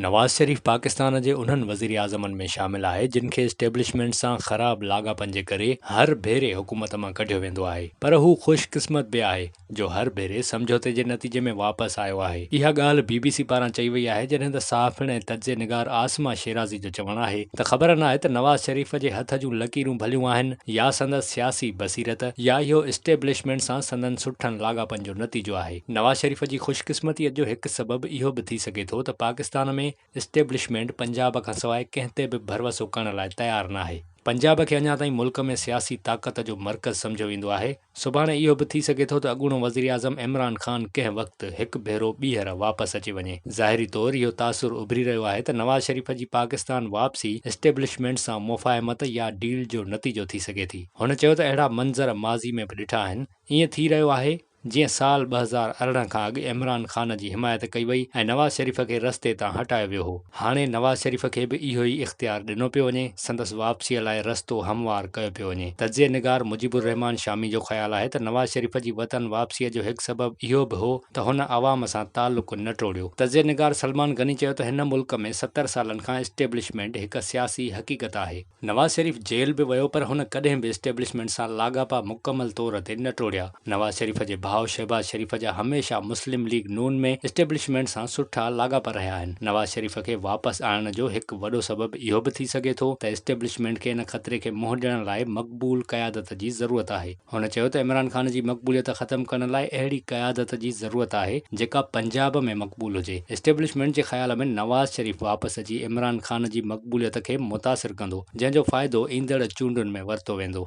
نواز شريف پاڪستان جي انهن وزيراعظمن ۾ شامل آهي جن کي اسٽيبلشمينٽ سان خراب لاڳاپن جي ڪري هر ڀيري حڪومت مان ڪڍيو ويندو آهي پر هو خوش قسمت به آهي جو هر ڀيري سمجهوتي جي نتيجي ۾ واپس آيو آهي اها ڳالهه بي بي سي پاران چئي وئي آهي جڏهن ته صحافڻ ۽ تجزئي نگار عاصمه شيرازي جو چوڻ آهي ته خبر ناهي ته نواز شريف جي هٿ جون لڪيرون ڀليون آهن يا سندس سياسي بصيرت يا اهو اسٽيبلشمينٽ سان سندن سٺن لاڳاپن جو نتيجو آهي. نواز شريف جي خوش قسمتي جو هڪ سبب اهو به ٿي سگهي ٿو ته پاڪستان ۾ اسٽيبلشمينٽ پنجاب کان سواء ڪنهن تي به ڀروسو ڪرڻ لاء تيار ناهي. پنجاب کي اڃا تائين ملڪ ۾ سياسي طاقت جو مرڪز سمجهيو ويندو آهي. سڀاڻي اهو به ٿي سگهي ٿو ته اڳوڻو وزيراعظم عمران خان ڪنهن وقت هڪ ڀيرو ٻيهر واپس اچي وڃي. ظاهري طور اهو تاثر اڀري رهيو آهي ته نواز شريف جي پاڪستان واپسي اسٽيبلشمينٽ سان مفاهمت يا ڊيل جو نتيجو ٿي سگهي ٿي. هن چيو ته اهڙا منظر ماضي ۾ به ڏٺا آهن. ائين ٿي رهيو آهي. جيئن سال ٻه هزار ارڙهن کان اڳ عمران خان جي حمايت ڪئي وئي ۽ نواز شريف کي رستي تان هٽايو ويو هو، هاڻي نواز شريف کي به اهو ئي اختيار ڏنو پيو وڃي، سندس واپسيء لاء رستو هموار ڪيو پيو وڃي. تجزيه نگار مجيب الرحمان شامي جو خيال آهي ته نواز شريف جي وطن واپسيء جو هڪ سبب اهو به هو ته هن عوام سان تعلق نه ٽوڙيو. تجزيه نگار سلمان غني چيو ته هن ملڪ ۾ ستر سالن کان اسٽيبلشمينٽ هڪ سياسي حقيقت آهي. نواز شريف جيل به ويو پر هن ڪڏهن به اسٽيبلشمينٽ سان لاڳاپا مڪمل طور تي نه ٽوڙيا. نواز شريف جي ڀاء شهباز شريف جا هميشه مسلم ليگ نون ۾ اسٽيبلشمينٽ سان سٺا لاڳاپا رهيا آهن. نواز شريف کي واپس آڻڻ جو هڪ وڏو سبب اهو به ٿي سگهي ٿو ته اسٽيبلشمينٽ کي ان خطري کي منهن ڏيڻ لاء مقبول قيادت جي ضرورت آهي. هن چيو ته عمران خان جي مقبوليت ختم ڪرڻ لاء اهڙي قيادت جي ضرورت آهي جيڪا پنجاب ۾ مقبول هجي، اسٽيبلشمينٽ جي خيال ۾ نواز شريف واپس اچي عمران خان جي مقبوليت کي متاثر ڪندو جنهن جو فائدو ايندڙ چونڊن ۾ ورتو ويندو.